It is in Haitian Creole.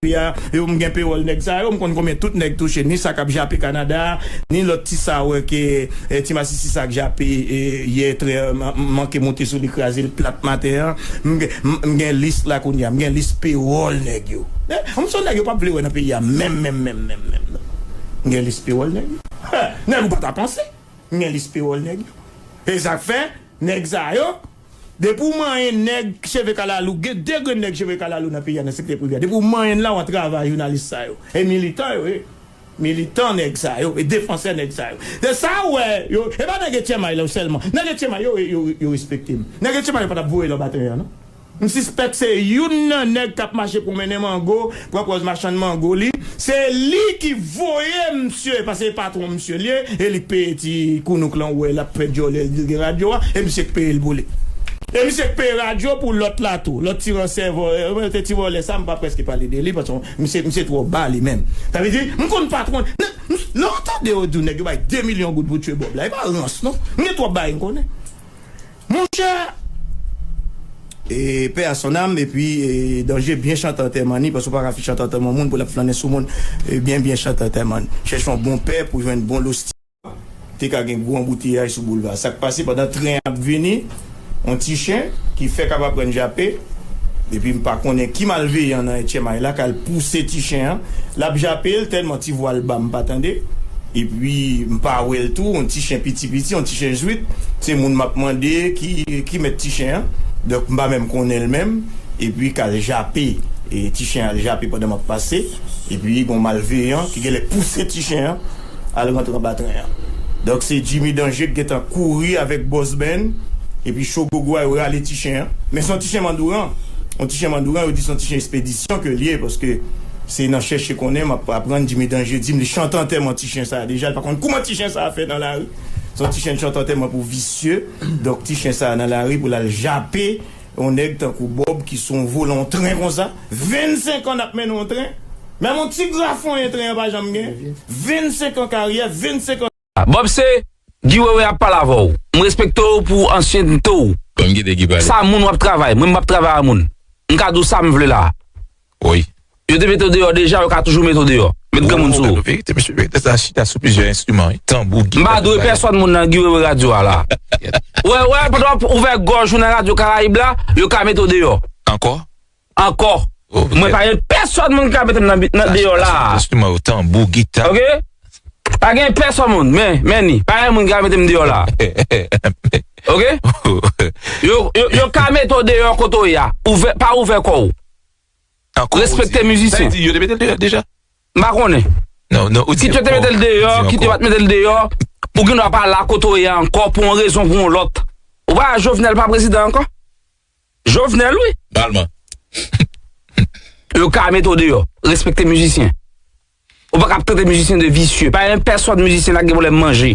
yo m gen pewòl nèg sa yo m konn konbyen tout nèg touche ni sa kap jape Canada ni lòt ti sa wè ke ti masisi sa k jape yè trè m manke moute sou li kraze l plat maten an m gen lis la kounye a m gen lis pewòl nèg yo m son nèg yo pap vle wè nan peyi a menm menm menm menm menm non m gen lis pewòl nèg yo nèg ou pa ta panse m gen lis pewòl nèg yo e sak fè. Nèg sa yo, depi ou manyen nèg cheve kalalou, gen 2 grenn nèg cheve kalalou nan peyi a nan sektè prive a, depi ou manyen l la wap travay jounalis sa yo, e militan yo ye, militan nèg sa yo, e defansè nèg sa yo. Se sa ou wè yo, e pa nèg etchèmay la yo sèlman, nèg etchèmay yo yo respekte m, nèg etchèmay yo pa tap voye l anba tren an non. M sispèk se youn nan nèg kap mache pwonmennen mango pran pòz machann mango li se li ki voye misye pase e patwon misye liye e li k peye ti kounouk lan ou wè lap fè dyòlè li gen radyo a e misye k peyel pou li e misye k peye radyo pou lòt la tou lòt ti ransè vòlè e ti vòlè sa m pa prèske pale de li paske misye misye twò ba li menm sa vle di m konn patwon lè ou tande yo di w nèg yo bay 2 milyon goud pou tue Bob la e pa rans non m gen twòp bagay m konnen. Monchè Eee paix à son âme epi Danger byen chante antèman ni paske ou paka fin chante antèman yon moun pou lap flannen sou moun byen byen chante antèman chèche yon bon pè pou jwenn bon losti. Te ka gen gwo anbouteyaj sou boulva sak pase pandan tren an ap vini yon ti chen ki fèk ap aprann jape epi m pa konnen ki malveyan nan etchemay la k al pouse ti chen an lap jape l tèlman ti vwa l ba m pa tande epi m pa wè l tou yon ti chen piti. Ti piti yon ti chen zwit se moun map mande ki mèt ti chen an donk m pa menm konnenl menm epi kal jape ti chen al jape pandan map pase epi gon malveyan ki genlè pouse ti chen an al rantre anba tren an donk se Jimmy Danger ki gentan kouri avèk Boss Ben epi Cho Gogo a yo rale ti chen an men son ti chen mandouran yon ti chen mandouran yo di son ti chen espedisyon kel ye paske se nan chèche konnen map aprann Jimmy Danger dim li chante antèman ti. ti chen sa deja li pa konn kouman ti chen sa fè nan lari son ti chen chantò tèlman pou visye donk ti chen sa nan lari pou lal jape yon nèg tankou Bob ki son volan tren konsa 25 an nap mennen yon tren menm yon ti grafonyen tren an pa janm gen 25 an karyè 25 an. Bob se Guy wewe ap pale avèw m respekte w pou ansyennte w sa moun wap travay mwen map travay a moun m ka di w sa m vle la. Woy. Yo te mete w deyò deja, yo ka toujou mete w deyò. Met granmoun sou ou. Gade yon verite mesye, yo te sa chita sou plizyè enstriman wi, tanbou, gita. M pa dwe pèsòn moun nan Guy Wewe radyo a la. Wè wè, pandan w ap ouvè gòj ou nan radyo Karayib la, yo ka mete w deyò. Ankò? Ankò. Mwen pa gen pèsòn moun ki ka mete m nan deyò la. Chita sou enstriman yo, tanbou, gita. Ok. Pa gen pèsòn moun, men, men ni. Pa gen moun ki ka mete m deyò la. Ok. Yo ka mete w deyò kote w ye a. Ouvè, pa ouvè kò w. Ankò ou di li. Sa vle di yo te mete l deyò deja? M pa konnen. Non, non, ou di ankò. Kit yo te mete l deyò, kit yo pa t mete l deyò, ou gen dwa pa la kote ou ye a ankò pou yon rezon pou yon lòt. Ou pa wè Jovenel pa prezidan ankò? Jovenel wi. Palman. Yo ka mete w deyò. Respekte mizisyen. Ou pa ka ap trete mizisyen de visye. Pa gen pèsòn mizisyen la ki gen pwoblèm manje.